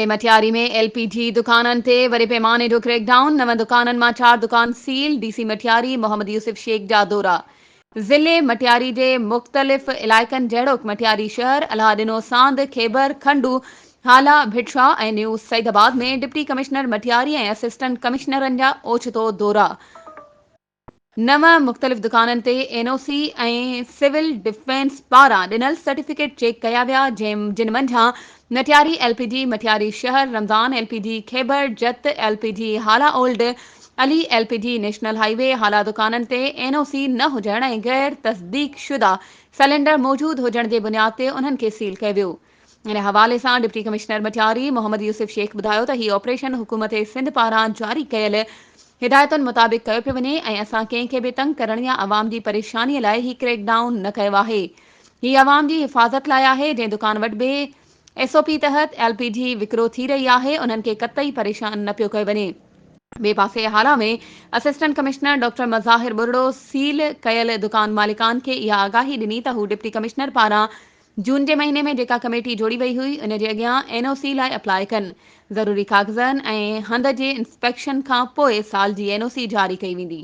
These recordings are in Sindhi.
۾ مٽياري ۾ ايل پي جي دڪانن تي وڏي پيماني جو ڪريڪ ڊائون، نون دڪانن مان چار دڪان seal, D C Matiari Muhammad Yousuf Shaikh جا دورا، ضلعي مٽياري جي مختلف علائقن جهڙوڪ مٽياري شهر، الهه Dino Sand, Khyber, Khando, Hala, Bhitshah ۽ new Saeedabad ۾ deputy commissioner Matiari ۽ assistant ڪمشنرن جا اوچتو دورا. نو مختلف دڪانن تي N O C ۽ civil defence پاران ڏنل سرٽيفڪيٽ چيڪ ڪيا ويا جن منجهان Matiari L P D, Matiari شهر، Ramzan L P D, Khyber, Jat L P D, Hala old, Ali L P D, national highway Hala دڪانن تي اين او سي نه هجڻ ۽ غير تصديق شده سلينڊر موجود هجڻ جي بنياد تي انهن کي سيل ڪيو ويو. ان حوالي سان ڊپٽي ڪمشنر مٽياري محمد يوسف شيخ ٻڌايو ته هي آپريشن حڪومت سنڌ پاران جاري ڪيل هدايتن مطابق ڪيو پيو وڃي ۽ اسان ڪنهن کي به تنگ ڪرڻ يا عوام جي پريشاني لاء هي ڪريڪ ڊائون نه ڪيو آهي هي عوام جي حفاظت لاء آهي جنهن دڪان وٽ به ايس او پي تحت ايل پي جي وڪرو ٿي رهي آهي انهن کي قطعي پريشان نه پيو ڪيو وڃي. ٻئي پاسي Hala ۾ assistant commissioner doctor Mazahar Burro seal ڪيل دڪان مالڪان کي اها آگاهي ڏني ته هو ڊپٽي ڪمشنر پاران جون جي مهيني ۾ جيڪا ڪميٽي جوڙي وئي هئي ان جي اڳيان اين او سي لاء اپلاء ڪن، ضروري ڪاغذن ۽ هنڌ جي انسپيڪشن کان پوء سال جي اين او سي جاري ڪئي ويندي.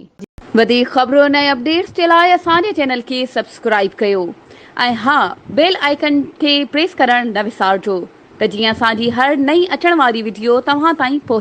وڌيڪ خبرن ۽ اپڊيٽس جي لاء اسان جي چينل کي سبسڪرائيب ڪيو ۽ ها بيل آئيڪن کي پريس ڪرڻ نه وسارجو ته جيئن اسان جي هر نئين اچڻ واري وڊيو توهان تائين پهچي.